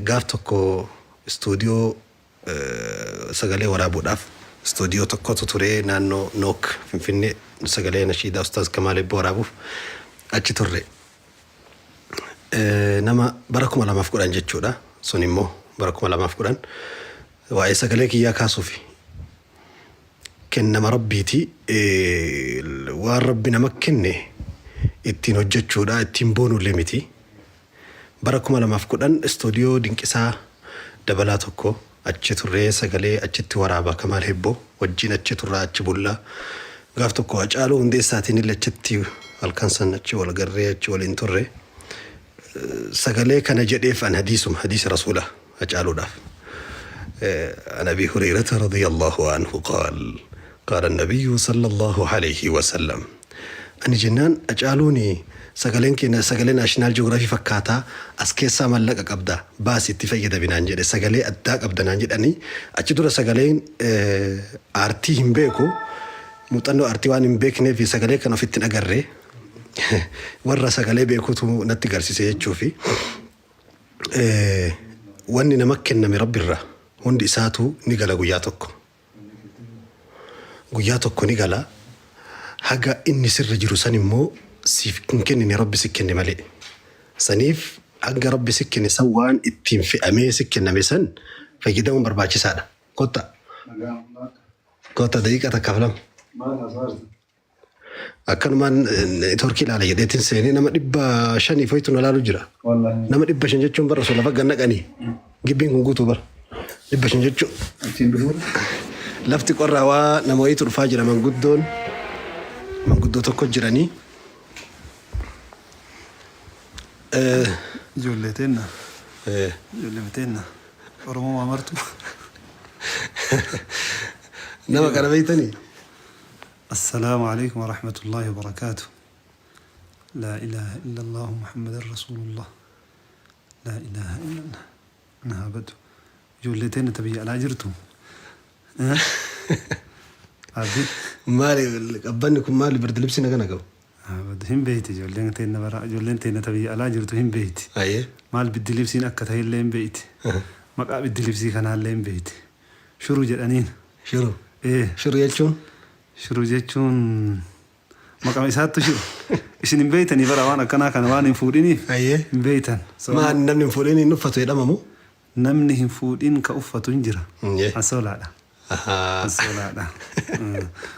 Gaaf tokko istuudiyoo sagalee waraabuudhaaf istuudiyoo tokkotu ture naannoo Nook Finfinnee sagalee nashiidaa Ustaaz Kamaal Eebboo waraabuuf achi turre. Nama bara 2010 jechuudha sun immoo bara 2010 waa'ee sagalee kiyyaa kaasuufi. Kennama Rabbiiti waan Rabbi nama kenne ittiin hojjechuudha ittiin boonuullee miti Bara 2010 Istuudiyoo Dinqisaa Dabalaa 1 achi turree sagalee achitti waraaba Kamaal Hebboo wajjin achi turraa achi bulla. Gaaf tokko Hacaaluu Hundeessaatiinille achitti halkan san achi wal garree achi waliin turre. Sagalee kana jedheef an hadiisuma, hadiisa Rasuulaa. Hacaaluudhaaf. An Abii Hureeyrata radiyallaahu anhu qaal, qaala Nabiyyu sallallaahu aleeyhi wa sallam, Ani jennaan Hacaaluun sagaleen kee sagalee National Geography fakkaata, as keessaa mallaqa qabda, baasi itti fayyadami naan jedhe, sagalee addaa qabda naan jedhe, ani achi dura sagaleen aartii hin beeku, muuxannoo aartii waan hin beekneef sagalee kana ofitti hin agarre, warra sagalee beekutu natti garsise jechuufi. Wanni nama kenname Rabbi irraa hundi isaatuu ni gala guyyaa tokko. Guyyaa tokko ni gala haga inni sirra jiru san immoo siif hin kennine Rabbi si kenne malee. Saniif hanga Rabbi si kenne san waan ittiin fe'amee si kenname san fayyadamuun barbaachisaadha. Kottaa. Kottaa daqiiqa takkaaf lama. Akkanumaan networkii ilaala jedheetiin seenee nama dhibba shanii foyitu na laalu jira. Nama dhibba shan jechuun bara osoo lafa gannaqanii gibbiin kun guutuu bara. Dhibba shan jechuun lafti qorraa waa nama wayiitu dhufaa jira manguddoon manguddoo tokko jiranii. Eh, Ijoollee teenna. eh, Ijoollee teenna. Oromoo maa martu. Nama kana beektanii? Assalaamu Aleeykum Warahmatullaahi Wabarakaatu Laa ilaaha illallaahu Muhammadan Rasuulullah Laa ilaaha illallah Na haa badu Ijoollee teenna ta biyya alaa jirtu Abdi Maali qabbanni kun maali birdilibsi naga nagabu. haa badu hin beeyti ijoolleen teenna bara ijoolleen teenna ta biyya alaa jirtu hin beeyti Ayee. maal biddilibsiin akka ta'ellee hin beeyti maqaa biddilibsii kanaallee hin beeyti Shuru jedhaniin. Shuru. Ee. Shuru jechuun? Shuru jechuun maqama isaattu shuru. Isin hin beeytanii bara waan akkanaa kana waan hin fuudhiniif Hayyee. hin beeytan. Maa namni hin fuudhin hin uffatu jedhamamu? Namni hin fuudhin ka uffatu hin jira. Hayyee. Asoolaadha. Ahaa. Asoolaadha. Mm.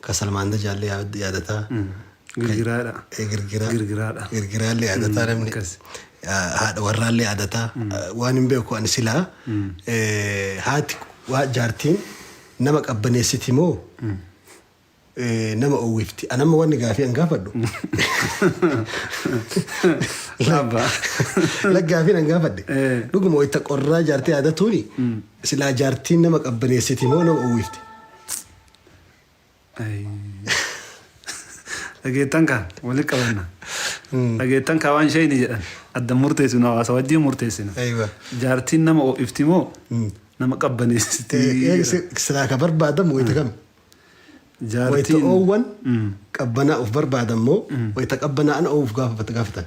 Ka salmaanda jaalle yaadataa. Girgiraadha. Eh, girgiraa. Girgiraadha. Girgiraallee yaadataa namni. akkas. Ah, Haadha warraallee yaadataa. Ah, Waan hin beeku ani silaa. eh, Haati waa jaartiin nama qabbaneessiti moo? eh, Nama oowwifti. An amma wanni gaafii an gaafadhu. Abba. Laggaafiin an gaafadhe. Eh. Dhuguma wayita qorraa jaartii yaadatuuni. Silaa jaartiin nama qabbaneessiti moo nama oowwifti? Dhageettan kaa walitti qabanna. Dhageettan kaa waan shayni jedhan adda murteessinu hawaasa wajjin murteessina. Aywa. Jaartiin nama ho'ifti moo nama qabbaneessiti? Silaa ka barbaadamu wayita kam? Wayita Jaartiin oowwan qabbanaa'uuf barbaadan moo wayita qabbanaa'an oowuuf gaafatan?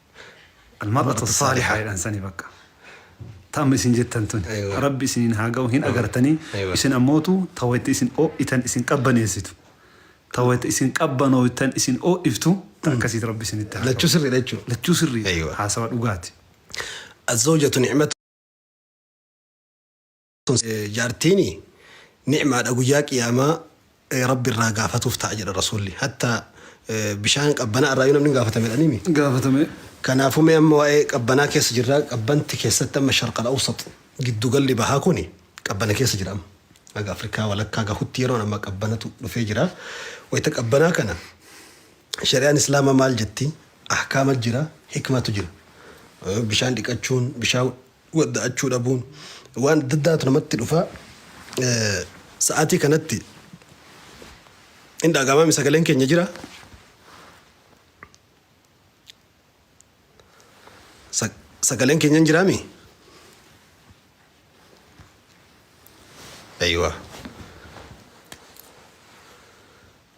Almar'atu assaalihaa jedhan sani bakka. Ta amma isin jettan tuni. Aywa. Rabbi isiniin haa ga'u hin agartanii Aywa. isin ammootu ta wayta isin oo'itan isin qabbaneessitu. Ta wayta isin qabbanooytan isin oo'iftu ta akkasiiti Rabbi isinitti haa Lachuu ga'u. sirriidha jechuudha. Lachuu sirriidha. Aywa. Haasawa dhugaati. Azzawjatu nicmatu. Jaartiini ni'maadha guyyaa qiyaamaa Rabbi irraa gaafatuuf ta'a jedha Rasuulli. Hatta bishaan qabbanaa irraa namni gaafatame jedhanii mi? Gaafatame. Kanaafuu mee amma waa'ee qabbanaa keessa jirraa qabbanti keessatti amma sharqal awsat giddugalli bahaa kuni qabbana keessa jira amma. Haga Afrikaa walakkaa gahutti yeroon amma qabbanatu dhufee jira. Wayita qabbanaa kana shari'aan islaamaa maal jetti? Ahkaama jira, hikmatu jira. Bishaan dhiqachuun, bishaan wadda'achuu dhabuun waan adda addaatu namatti dhufa. Sa'aatii kanatti hin dhaga'amaami sagaleen keenya jira. Sa- Sagaleen keenya hin jiraami? Aywa.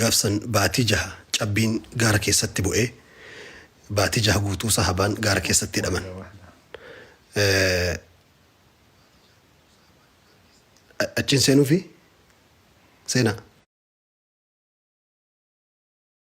gaaf san baatii jaha cabbiin gaara keessatti bu'ee baatii jaha guutuu sahabaan gaara keessatti hidhaman achiin seenuufi seenaa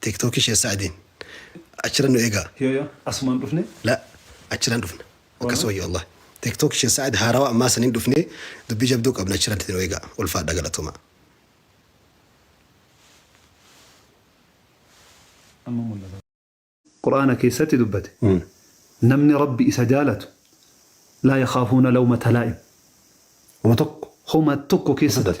Tiktok ishe sa'adin achira nu egaa. Yoyo asuman dhufne. La achiran dhufna akkas wayyo Allah tiktok ishe sa'ad haarawa ammaa sanin dhufne dubbii jabduu qabna achiran nu egaa ulfaadha galatoma. Amma mullata. Qur'aana keessatti dubbate namni rabbi isa jaalatu laa yakhaafuuna lawmata laa'im homa tokko homa tokko keessatti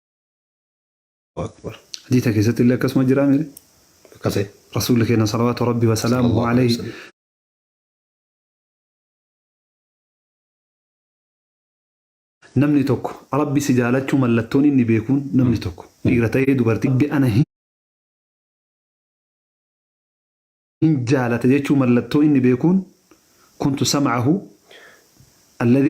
akbar. Hadiisa keessatti illee akkasuma jiraa mire? Akkasee. Rasuulli keenya salawaatu rabbi wa salaamuhu Sallallahu alaihi alayhi wasallam. namni tokko rabbi si jaalachuu mallattoon inni beekuun namni tokko dhiira ta'ee dubartii rabbi ana hin hin jaalata jechuu mallattoo inni beekuun kuntu sam'ahu alladhi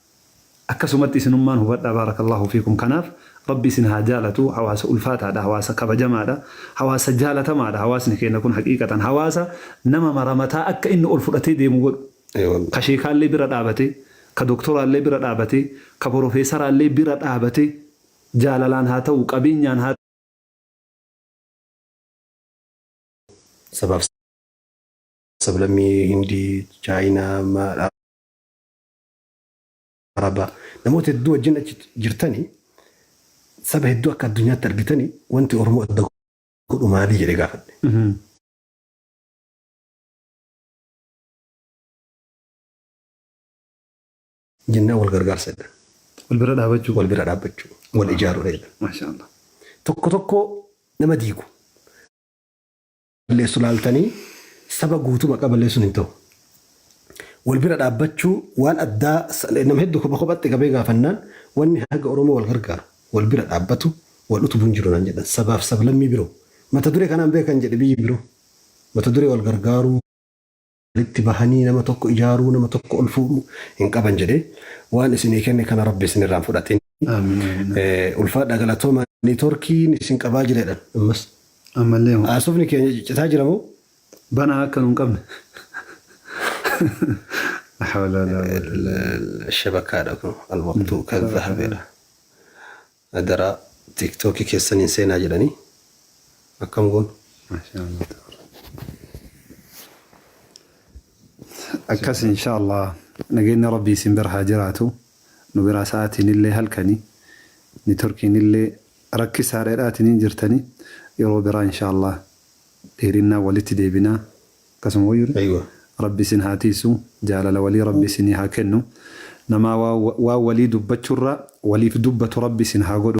Akkasumatti isinummaan hubadhaa baarakallaahu fiikum kanaaf rabbi isin haa jaalatu hawaasa ulfaataadha hawaasa kabajamaadha hawaasa jaalatamaadha hawaasni keenya kun haqiiqatan hawaasa nama mara mataa akka inni ol fudhatee deemu godhu ka sheekaallee bira dhaabatee ka doktoraallee bira dhaabatee ka porofeesaraallee bira dhaabatee jaalalaan haa ta'u qabeenyaan haa ta'u sabaaf sablammii hindii chaayinaa Arabaa. Namoota hedduu wajjin achi jirtani saba hedduu akka addunyaatti argitani wanti Oromoo adda godhu maalii jedhe gaafadhe. Jennaan wal gargaarsa jedhan. Wal bira dhaabachuu. Wal bira dhaabbachuu. Wal ijaaruudha jedhan. Maashaa Allah. Tokko tokko nama diigu. balleessu laaltanii saba guutuu maqaa balleessuun hin ta'u. Wal bira dhaabbachuu waan addaa nama hedduu kopha kophatti qabee gaafannaan wanni haga Oromoo wal gargaaru wal bira dhaabbatu wal utubu hin jiru naan jedhan sabaaf sablammii biroo mata duree kanaan beekan jedhe biyyi biroo mata duree wal gargaaruu walitti bahanii nama tokko ijaaruu, nama tokko ol fuudhuu hin qaban jedhee waan isinii kenne kana Rabbi isinirraa hin fudhatin. Ulfaadhaa galatoomaa Networkiin isin qabaa jira jedhan ammas. Ammallee hoo. Haasofni keenya ciccitaa jira moo? Banaa akka nu hin qabne. La hawla wa la quwwata illa billah. Shabakaadha kun alwaqtuu kan zahabeedha. Adaraa tiktoki kessan hin seenaa jedhanii akkam goonu. Mashallah tabaraka. Akkas inshallah nageenni rabbii isin bira haa jiraatu nu biraa sa'aatiin illee halkani nitorkiin illee rakkisaadha jedhaatiniin jirtani yeroo biraa inshallah dheerinnaan walitti deebinaa Akkasuma woyyu ree. Ayiwa. Rabbi isin haa tiiysu jaalala walii rabbi isinii haa kennu namaa waa walii dubbachurraa waliif dubbatu rabbi isin haa godhu.